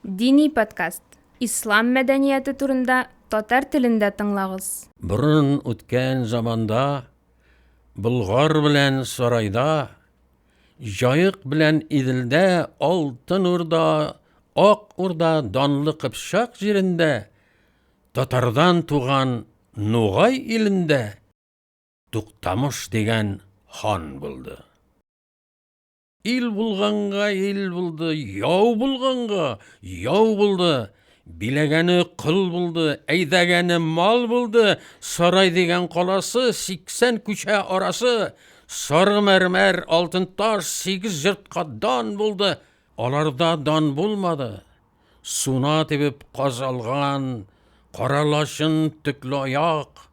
Дини подкаст, ислам мәдәнияте турында татар телендә тыңлагыз. Борын үткән заманда Болгар белән Сарайда, Җаек белән Иделдә, Алтын Урда, Ак Урда, Данлы Кыпчак җирендә, Татардан туган Нугай илендә Туктамыш дигән хан булды. Ил булганга ил булды, яу булганга яу булды. Биләгәне кол булды, әйдәгәне мал булды. Сарай дигән каласы, 80 күчә арасы. Сары мәрмәр, алтын таш, 8 йортка дан булды. Аларда дан булмады. Суна тибеп каз алган, кара лачын, төкле аяк,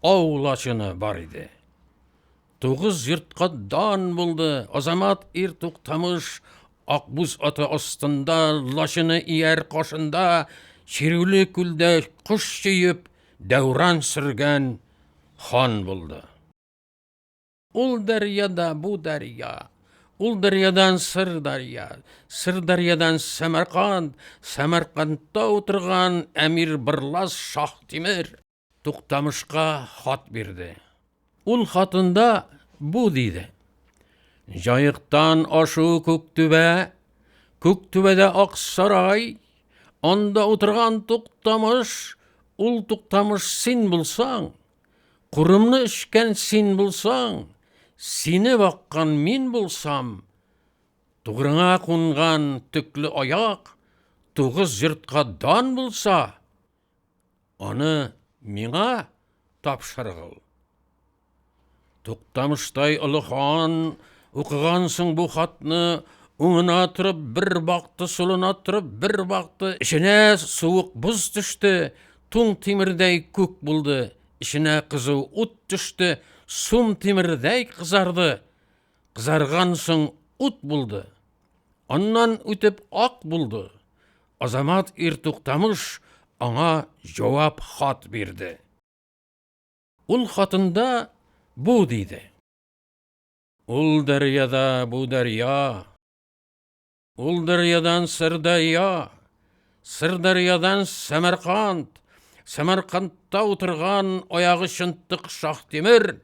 ау лачыны бар иде. Тугыз йортка дан булды. Азамат ир туктамыш акбуз аты астында, лачыны ияр кашында, чирүле күлдә кош чөеп, дәүран сөргән хан булды. Ул дәрьяда бу дәрья, ул дәрьядан сыр дәрья, сыр дәрьядан Сәмәрканд, Сәмәркандта утырган әмир Бырлас Шаһтимер. Туктамышка хат бирде. Ул хатында бу диде. Җаектан ашу Күктүбә, Күктүбәдә Аксарай, анда утырган Туктамыш, ул Туктамыш син булсаң, курымны эчкән син булсаң, сине баккан мин булсам, тугрыңа кунган төкле аяк, тугыз йортка дан булса, Аны миңа тапшыргыл. Туктамыштай олы хан, укыгансың бу хатны, уңына торып бер бакты, сулына торып бер бакты, эченә суык боз төште, туң тимердәй күк булды, эченә кызу ут төште, сум тимердәй кызарды. Кызарган соң ут булды. Аннан үтеп ак булды. Азамат ир Туктамыш аңа җавап хат бирде. Ул хатында бу диде. Ул дәрьяда бу дәрья. Ул дәрьядан Сырдайя, Сырдәрьядан Сәмәрканд, Сәмәркандта утырган аягы чынтык Шаһтимер,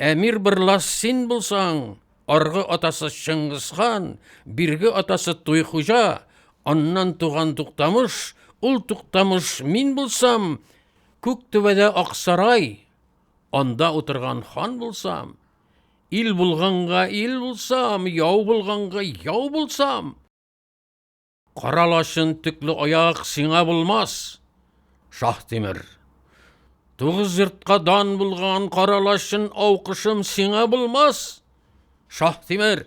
Әмир Бырлас син булсаң, аргы атасы Чыңгызхан, бирге атасы Туйхуҗа, аннан туган Туктамыш, ул Туктамыш мин булсам, күк түбәдә Аксарай, анда утырган хан булсам, Ил булганга ил булсам, яу булганга яу булсам. Кара лачын төкле аяк сиңа булмас, Шаһтимер. Тугыз йортка дан булган кара лачын аукышым сиңа булмас, Шаһтимер.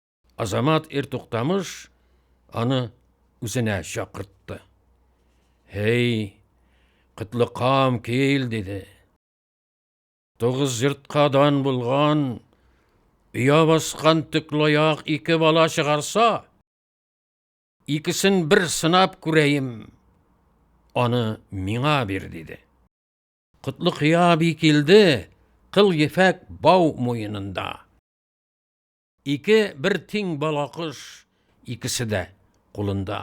Азамат ир туктамыш аны үзенә чакыртты. Һей, кытлыкам кил, диде. Тугыз йортка дан булган, оя баскан төклаяк ике бала чыгарса, икесен бер сынап күрәем, аны миңа бир, диде. Котлыкия би килде, кыл ефәк бау муенында. Ике бер тиң бала кош, икесе дә кулында.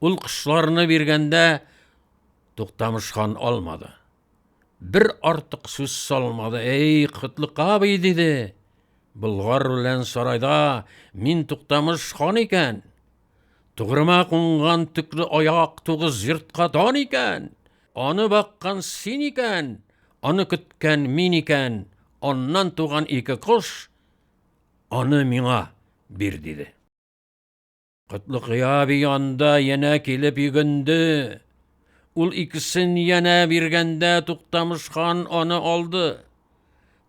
Ул кошларны биргәндә Туктамыш хан алмады. Бер артык сүз салмады. Эй, Котлык абый, диде. Болгар белән сарайда мин Туктамыш хан икән. Тугрыма кунган төкле аяк тугыз йортка дан икән. Аны баккан син икән, аны көткән мин икән. Аннан туган ике кош Аны миңа бир, диде. Котлыкыя би анда янә килеп йөгенде. Ул икесен янә биргәндә Туктамыш хан аны алды.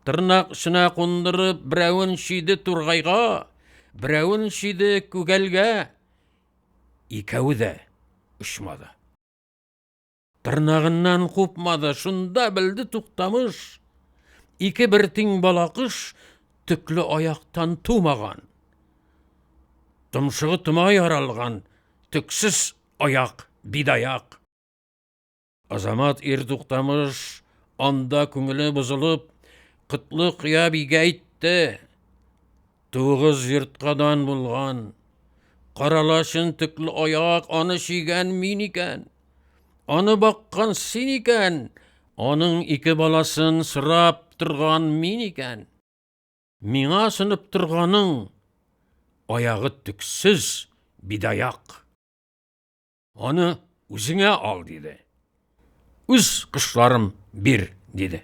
Тырнак эченә кундырып, берәвен чөйде тургайга, берәвен чөйде күгәлгә. Икәве дә очмады. Тырнагыннан купмады, шунда белде Туктамыш, ике бер тиң балакыш төкле аяктан тумаган. Томшыгы тома яралган, төксез аяк, бидаяк. Азамат ир Туктамыш анда күңеле бозылып, кытлы кыя бигә әйтте. Тугыз йортка дан булган Каралачын төкле аяк аны чигән мин икән. Аны баккан син икән, аның ике баласын сорап торган мин икән. Миңа сынып торганың аягы төксез бидаяк. Аны үзеңә ал, диде. Үз кошларым бир, диде.